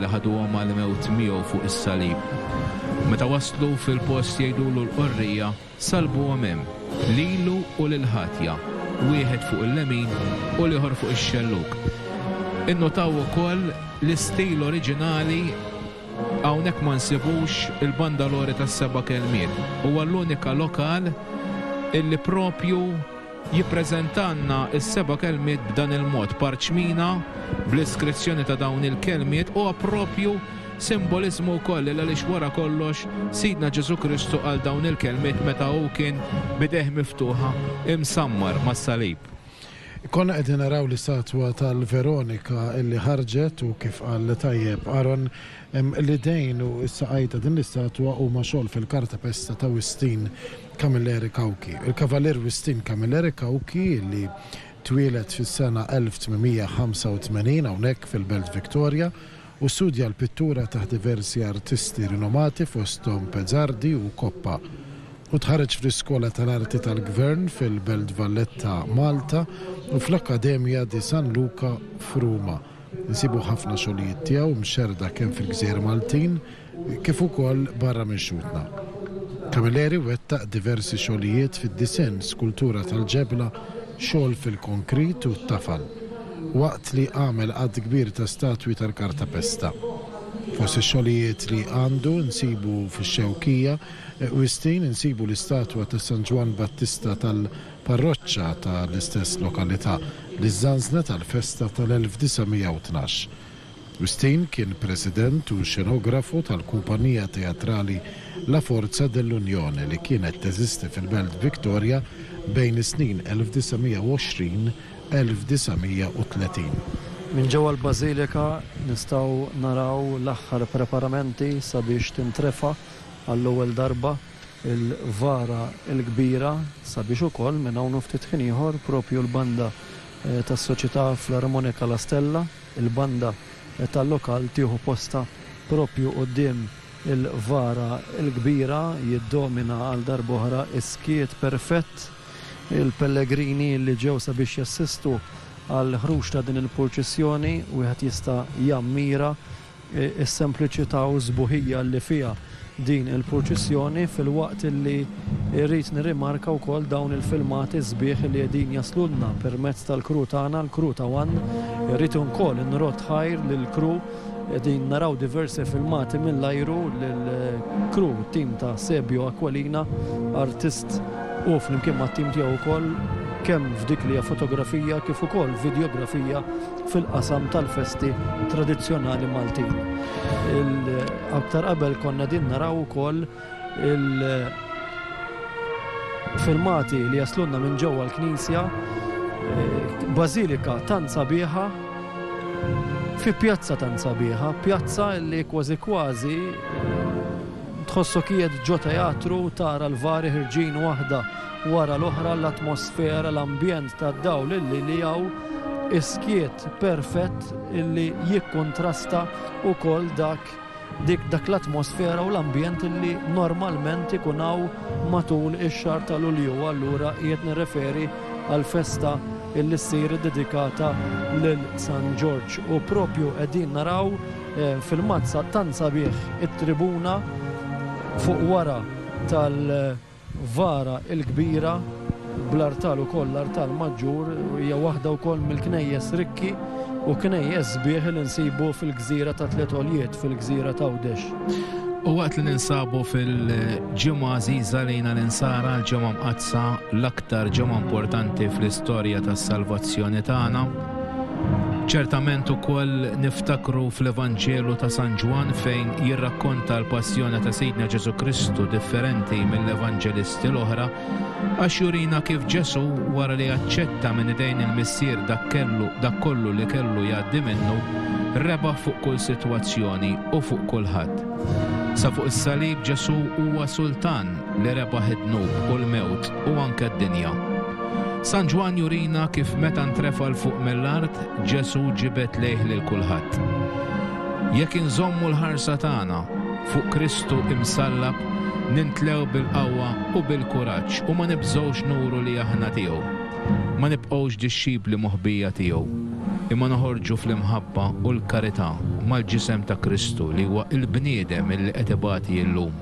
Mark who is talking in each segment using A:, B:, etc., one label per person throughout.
A: li ħaduhom għall-mewt miegħu fuq is-salib. Meta waslu fil-post jgħidulu l-qorrija, Salbuhom hemm, lilu u lill-ħatja, wieħed fuq il-lemin u l-ieħor fuq ix-xellug. Innotaw ukoll l-istil oriġinali hawnhekk ma nsibux il-bandalore tas-seba' kelmiet. Huwa l-unika lokal illi proprju Jippreżentalna s-seba' kelmiet b'dan il-mod, parċmina bl-iskrizzjoni ta' dawn il-kelmiet huwa proprju simboliżmu wkoll li għaliex wara kollox Sidna Ġesù Kristu qal dawn il-kelmiet meta hu kien b'idejh miftuħa imsammar mas-salib. Konna
B: qegħdin naraw l-istatwa tal-Veronika li ħarġet u kif qal tajjeb Aaron, L-idejn u s-saqajn ta' din l-istatwa huma xogħol fil-kartapesta ta' Wistin Camilleri Cauchi. Il-Kavalier Wistin Camilleri Cauchi, li twieled fis-sena 1885 hawnhekk fil-Belt Victoria u studja l-pittura taħt diversi artisti rinomati fosthom Pezzardi u Coppa, u tħarreġ fl-Iskola tal-Arti tal-Gvern fil-Belt Valletta, Malta, u fl-Accademia di San Luca f'Ruma. Insibu ħafna xogħlijiet tiegħu mxerrda kemm fil-gżejjer Maltin kif ukoll barra minn xhudna. Camilleri wettaq diversi xogħlijiet fid-disinn, skultura tal-ġebla, xogħol fil-konkrit u t-tafal, waqt li għamel għadd kbir ta' statwi tal-kartapesta. Fost ix-xogħlijiet li għandu nsibu fix-Xewkija, Wistin, insibu l-istatwa ta' San Ġwann Battista tal. parroċċa ta' l-istess lokalità, li żżanżnet għall-festa ta' l-1912. Wistin kien president u xenografu tal-kumpanija teatrali La Forza dell'Unione li kienet teżisti fil-Belt Victoria bejn is-snin 1920, 1930. Minn ġewwa
C: l-Bażilika nistgħu naraw l-aħħar preparamenti sabiex tintrefa' għall-ewwel darba il-Vara l-Kbira sabiex ukoll minn hawn u ftit ħin ieħor propju l-banda tas-Soċjetà Flarmonika La Stella, il-banda tal-lokal tieħu postha propju quddiem il-Vara l-Kbira, jiddomina għal darb'oħra s-skiet perfett. Il-pellegrini li ġew sabiex jassistu għall-ħruġ ta' din il-purċissjoni wieħed jista' jammira is-sempliċità u s-sbuħija li fiha din il-purċissjoni filwaqt li rrid nirrimarka wkoll dawn il-filmati sbieħ li qegħdin jaslulna permezz tal-crew tagħna, l-crew ta' one. Irrid ukoll nrodd ħajr lill-crew, qegħdin naraw diversi filmati mill-ajru lill-crew, it-tim ta' Sebio Aquilina, artist hu flimkien mat-tim tiegħu wkoll kemm f'dik li hija fotografija kif ukoll vidjografija. fil-qasam tal-festi tradizzjonali Maltin. Aktar qabel konna din naraw ukoll il-filmati li jaslunna minn ġewwa l-Knisja, eh, bażilika tant sabiħa fi pjazza tant sabiħa, pjazza li kważi kważi eh, tħossok qiegħed ġo teatru tara l-vari ħirġin waħda wara l-oħra l-atmosfera, l-ambjent tad-dawl illi li hawn, is-skiet perfett illi jikkuntrasta wkoll dak dik dak l-atmosfera u l-ambjent illi normalment ikun hawn matul ix-xahar ta' Lulju. Allura qiegħed nirreferi għal festa illi ssir dedikata lil San Ġorġ u propju qegħdin naraw eh, fil-mazza tant sabiħ it-tribuna fuq wara tal- Vara il-Kbira, bl-artal ukoll l-artal maġġur, hija waħda wkoll mill-knejjes rikki u knejjes sbieħ li nsibu fil-gżira ta' Tliet Għoljiet, fil-gżira t'Għawdex. U waqt li
A: ninsabu fil-ġimgħa għażiża lejna l-Insara, l-Ġimgħa Mqaddsa, l-aktar ġimgħa importanti fl-istorja tas-salvazzjoni tagħna, Ċertament ukoll niftakru fl-Evanġelu ta' San Ġwann fejn jirrakkonta l-passjoni ta' Sidna Ġesù Kristu differenti mill-Evanġelisti l-oħra għax jurina kif Ġesù wara li aċċetta minn idejn il-Missier dak kellu dak kollu li kellu jgħaddi minnu rebaħ fuq kull sitwazzjoni u fuq kulħadd. Sa fuq is-salib Ġesù huwa Sultan li rebaħ id-dnub u l-mewt u anke d-dinja. San Ġwann jurina kif meta ntrefa' 'l fuq mill-art, Ġesù ġibed lejh lil kulħadd. Jekk inżommu l-ħarsa tagħna fuq Kristu imsallab, nintlew bil-qawwa u bil-kuraġġ u ma nibżgħux nuru li aħna tiegħu. Ma nibqgħux dixxipli moħbija tiegħu, imma noħorġu fl-imħabba u l-karità mal-ġisem ta' Kristu li huwa l-bniedem li qed ibati llum.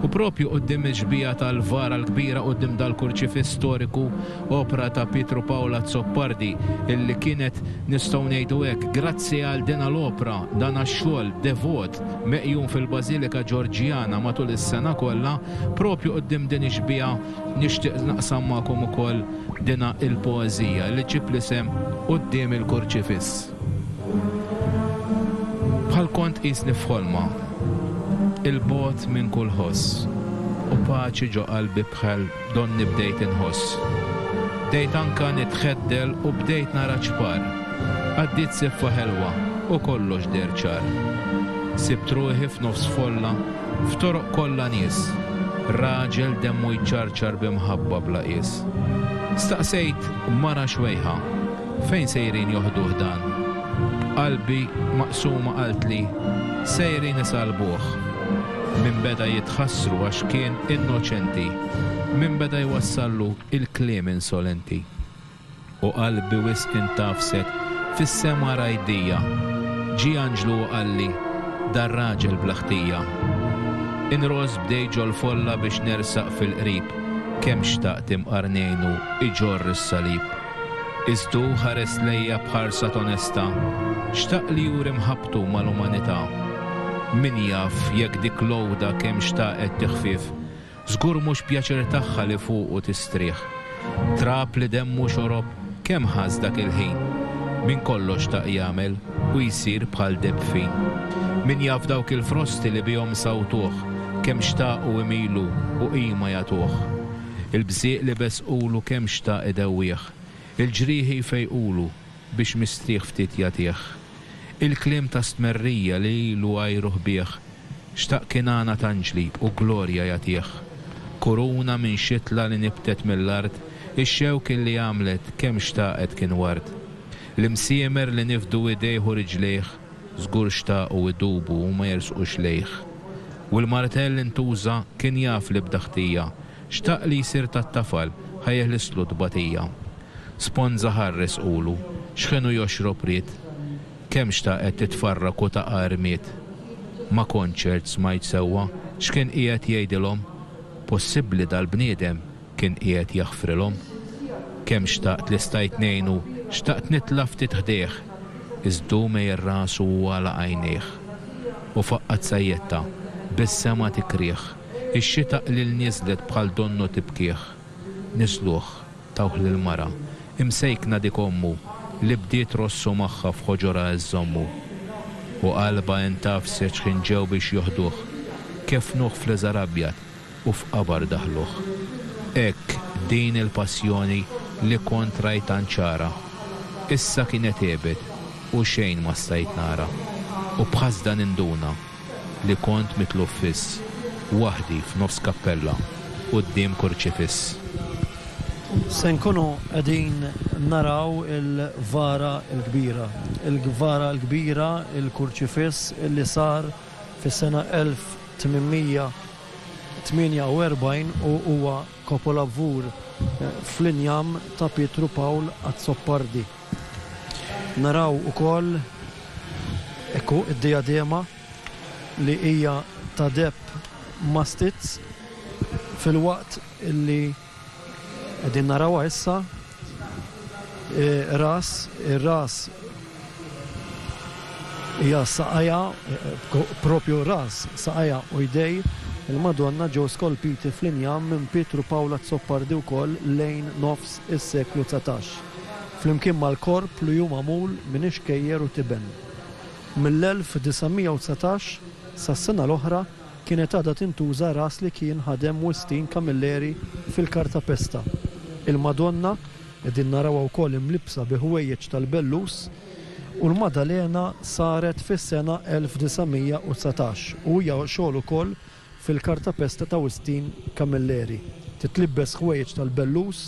A: U proprju quddiem ix-xbieha tal-vara l-kbira, quddiem dal-kurċifiss storiku, opra ta' Pietro Paolo Azzopardi, illi kienet, nistgħu ngħidu hekk, grazzi għal dina l-opra, dana x-xogħol devot meqjum fil-Bażilika Ġorġjana matul is-sena kollha, proprju quddiem din ix-xbieha nixtieq naqsam magħkom ukoll dina il-poeżija li ġġib l-isem Quddiem il-Kurċifiss. Bħal kont tqisni f'ħolma, 'il bogħod minn kull ħoss, u paċi ġo qalbi bħal donni bdejt inħoss. Bdejt anka nitħeddel u bdejt nara ċpar, għaddiet siffa ħelwa u kollox deher ċar. Sibt ruħi f'nofs folla, f'toroq kollha nies, raġel demmu jċarċar b'imħabba bla qies. Staqsejt mara xwejħa, Fejn sejrin joħduh dan? Qalbi maqsuma qaltli sejrin isalbuh. Min beda jitħassru għax kien innoċenti, min beda jwassallu il-kliem insolenti. U qalbi wisq intgħafset fis-sema rajdija, ġie anġlu u qalli, dar-raġel bla ħtija. Inross b'dej ġol-folla biex nersaq fil-qrib, kemm xtaqt imqar ngħinu iġorr is-salib. Iżd hu ħares lejja b'ħarsa t'onesta, xtaq li juri mħabbtu mal-umanità. Min jaf jekk dik l-għoda kemm xtaqet tiħfief, żgur mhux pjaċir tagħha li fuqu tistrieħ. Trab li demmu xorob kemm ħass dak il-ħin. Min kollox xtaq jagħmel u jsir bħal debfin. Min jaf dawk il-frosti li bihom sawtuh, kemm xtaqu imilu u qima jagħtuh. Il-bżieq li beżqulu kemm xtaq idewwih, il-ġrieħi jfejqulu biex mistrieħ ftit jagħtih. Il-kliem ta' stmerrija li ilu għajruh bih, xtaq kinana t'anġlib u glorja jagħtih. Kuruna minn xitla li nibtet mill-art, ix-xewk illi għamlet kemm xtaqet kien ward. L-imsiemer li nifdu idejh u riġlejh, Żgur xtaqu jdubu u ma jersqux lejh. U l-martell li ntuża kien jaf li bda ħtija, xtaq li jsir tat-tafal ħa jeħlislu t-tbatija. Sponża ħa rresqulu, x'ħinu joxrob ried. Kemm xtaqet titfarrak u taqa' rmied. Ma kontx ert smajt sewwa x'kien qiegħed jgħidilhom? Possibbli dal-bniedem kien qiegħed jaħfrilhom. Kemm xtaqt li stajt ngħinu, xtaqt nitla' ftit ħdejh, iż hu mejjel rasu u għalaq għajnejh. U faqqgħet sajjetta, bis-sema tikrih, ix-xita qliel niżlet bħal donnu tibkih. Niżluh, tawh lill-mara, imsejkna dik ommu, li bdiet rossu magħha f'ħoġorha iżżommu. U qalbha intgħafset x'ħin ġew biex joħduh, keffnuh f'liżar abjad, u f'qabar daħluh. Hekk din il-passjoni li kont rajt tant ċara, issa kienet għebet u xejn ma stajt nara, u b'ħasda ninduna li kont mitluf fiss, waħdi f'nofs kappella quddiem kurċifiss.
C: Se nkunu qegħdin naraw il-Vara l-Kbira, il-Vara l-Kbira, il-kurċifiss li sar fis-sena 1800. 48 u huwa kapolavur fl-injam ta' Pietru Pawl Azzopardi. Naraw ukoll, hekk hu, id-dijadema li hija ta' deheb mastizz filwaqt li. Qegħdin narawha issa ras ir-ras hija saqajja propju ras saqajja u jdej il-Madonna ġew skolpiti fl-injam minn Pietru Pawl Azzopardi wkoll lejn nofs is-seklu dsatax, flimkien mal-korp li hu magħmul minn ixkejjer u tiben. Mill-1919 sas-sena l-oħra, kienet għadha tintuża ras li kien ħadem Wistin Camilleri fil-Kartapesta. Il-Madonna qegħdin narawha wkoll imlibbsa bi ħwejjeġ tal-bellus u l-Madalena saret fis-sena 1919 u hija xogħol ukoll fil-Kartapesta ta' Wistin Camilleri. Titlibbes ħwejjeġ tal-bellus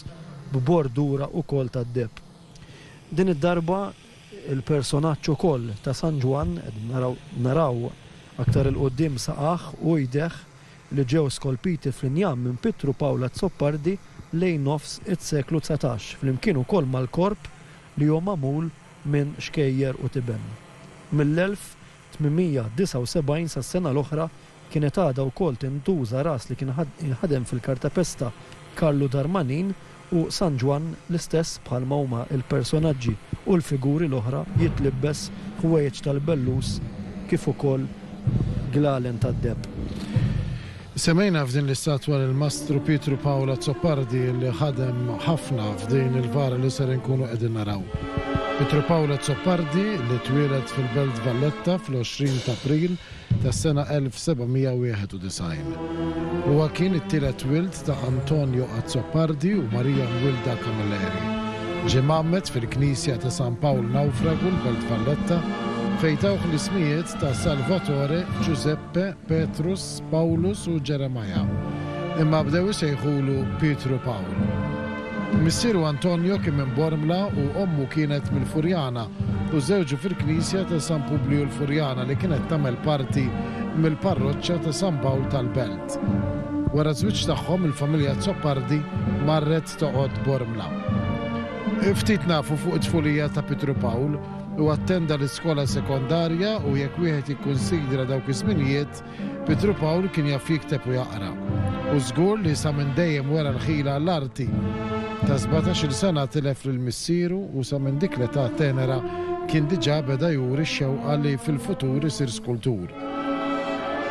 C: b'bordura wkoll tad-deheb. Din id-darba Il-personaġġ ukoll ta' San Ġwann, qegħdin naraw, naraw aktar 'il quddiem saqajh u jdejh li ġew skolpiti fl-injam minn Pietru Pawl Azzopardi lejn nofs is-seklu dsatax, flimkien ukoll mal-korp li hu magħmul minn xkejjer u tiben. Mill-elf 879 sas-sena l-oħra kienet għadha wkoll tintuża ras li kien jinħadem fil-kartapesta Karlu Darmanin u San Ġwann l-istess bħalma huma l-personaġġi u l-figuri l-oħra jitlibbes ħwejjeġ tal-bellus kif ukoll glalen tad-deheb.
B: Semmejna f'din l-istat dwar il-Mastru Pietru Pawl Azzopardi li ħadem ħafna f'din il-vara li ser inkunu qegħdin naraw. Pietru Pawl Azzopardi li twieled fil-Belt Valletta fl-20 t'April tas-sena 1791. Huwa kien it-tielet wild ta' Antonio Azzopardi u Marija Mwilda Camilleri. Ġie mgħammed fil-Knisja ta' San Pawl Nawfragu l-Belt Valletta fejn tawh l-ismijiet ta' Salvatore, Giuseppe, Petrus, Pawlus u Ġeremaja, imma bdew isejħulu Pietru Pawl. Missieru Antonio kien minn Bormla u ommu kienet mill-Furjana u żżewġu fil-knisja ta' San Publiju l-Furjana li kienet tagħmel parti mill-parroċċa ta' San Pawl tal-Belt. Wara ż-żwieġ tagħhom il-familja Azzopardi marret toqgħod Bormla. Ftit nafu fuq it-tfulija ta' Pietru Pawl. Huwa attenda l-iskola sekondarja u jekk wieħed jikkunsidra dawk iż-żminijiet, Pietru Pawl kien jaf jikteb u jaqra. U żgur li sa minn dejjem wera l-ħila għall-arti. Ta' sbatax-il sena tilef lil missieru u sa minn dik l-età tenera kien diġà beda juri x-xewqa li fil-futur isir skultur.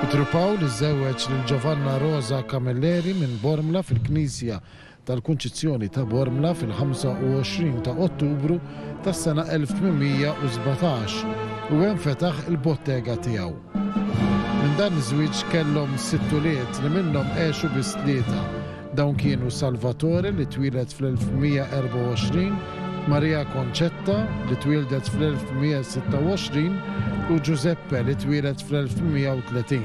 B: Pietru Pawl iżżewweġ lil Giovanna Rosa Camilleri minn Bormla fil-Knisja tal-Kunċizzjoni ta' Bormla fil-25 ta' Ottubru tas-sena 1817 u hemm fetaħ il-bottega tiegħu. Minn dan iż-żwieġ kellhom sitt ulied li minnhom għexu biss tlieta. Dawn kienu Salvatore li twieled fl-1124, Maria Concetta, li twieldet fl-1826, u Giuseppe, li twieled fl-1830.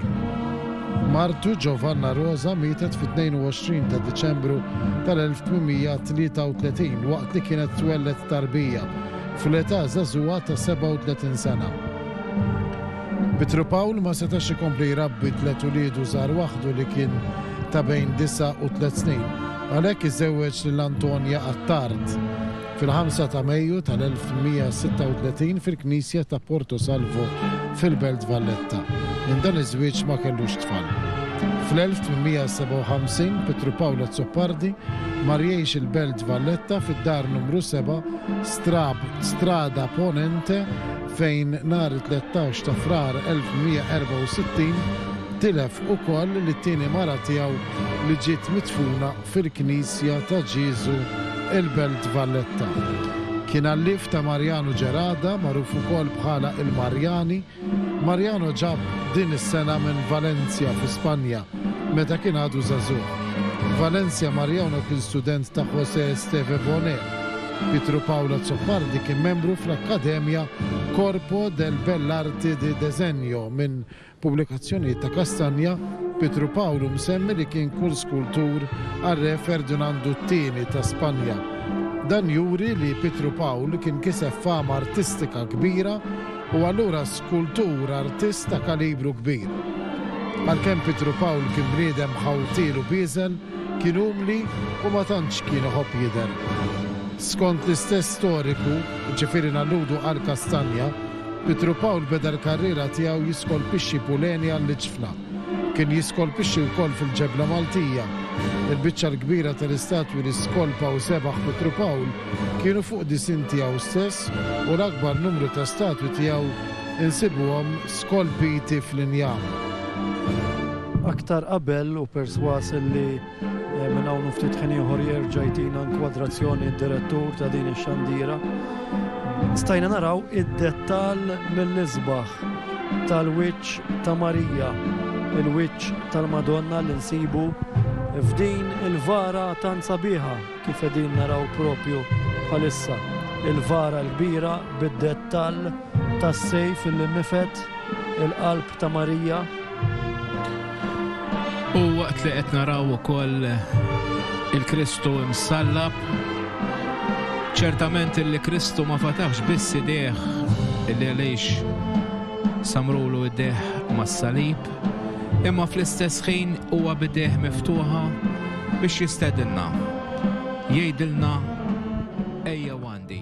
B: Martu, Giovanna Rosa, mietet fit-22 ta' Diċembru tal-1833 waqt li kienet twelled tarbija fl-età żagħżugħa ta' 37 sena. Pietru Pawl ma setax ikompli jrabbi tliet uliedu żgħar waħdu li kien ta' bejn disa' u tliet snin. Għalhekk iżewweġ lil Antonia Attard fil-5 ta' Mejju tal-1136 fil-knisja ta' Porto Salvo fil-Belt Valletta. Minn dan iż-żwieġ ma kellux tfal. Fl-1857 Pietru Paolo Azzopardi mar jgħix il-Belt Valletta fid-dar numru 7 Strab Strada Ponente fejn nhar it-13 ta' Frar 1164 tilef ukoll lit-tieni mara tiegħu li ġiet midfuna fil-knisja ta' Ġieżu il-Belt Valletta. Kien allief ta' Mariano Gerada, magħruf ukoll bħala il-Marjani. Mariano ġab din is-sengħa minn Valencia fi Spanja meta kien għadu żagħżugħ. Valencia Mariano kien student ta' José Esteve Boné. Pietro Paolo Azzopardi kien membru fl-Akkademja Corpo del Bell'Arte di Desenjo minn Pubblikazzjonijiet ta' Castagna, Pietru Pawlu msemmi li kien kull skultur għar-Re Ferdinandu t-Tieni ta' Spanja. Dan juri li Pietru Pawl kien kiseb fama artistika kbira u allura skultur artist ta' kalibru kbir. Għalkemm Pietru Pawl kien bniedem ħawtiel u bieżel, kien umli u ma tantx kien iħobb jidher. Skont l-istess storiku, ġifieri nalludu għal Castagna, Pietru Pawl beda l-karriera tiegħu jiskolpixxi puleni għall-iġfna. Kien jiskolpixxi wkoll fil-ġebla Maltija. Il-biċċa l-kbira tal-istatwi li skolpa u sebaħ Pietru Pawl kienu fuq disinn tiegħu stess u l-akbar numru ta' statwi tiegħu nsibuhom skolpiti fl-injam. Aktar
C: qabel hu persważ li. Minn hawn u ftit ħin ieħor jerġa' jtina inkwadrazzjoni d-direttur ta' din ix-xandira. Stajna naraw id-dettall mill-isbaħ tal-wiċċ ta' Marija, il-wiċċ tal-Madonna li nsibu f'din il-vara tant sabiħa kif qegħdin naraw propju bħalissa. Il-vara l-kbira bid-dettall tas-sejf il-nifet il-qalb ta' Marija.
A: U waqt li qed naraw ukoll il-Kristu msallab, ċertament li Kristu ma fatax biss idejh li għaliex samrulu idejh mas-salib, imma fl-istess ħin huwa bidejh miftuħa biex jistedinna, jgħidilna ejja għandi.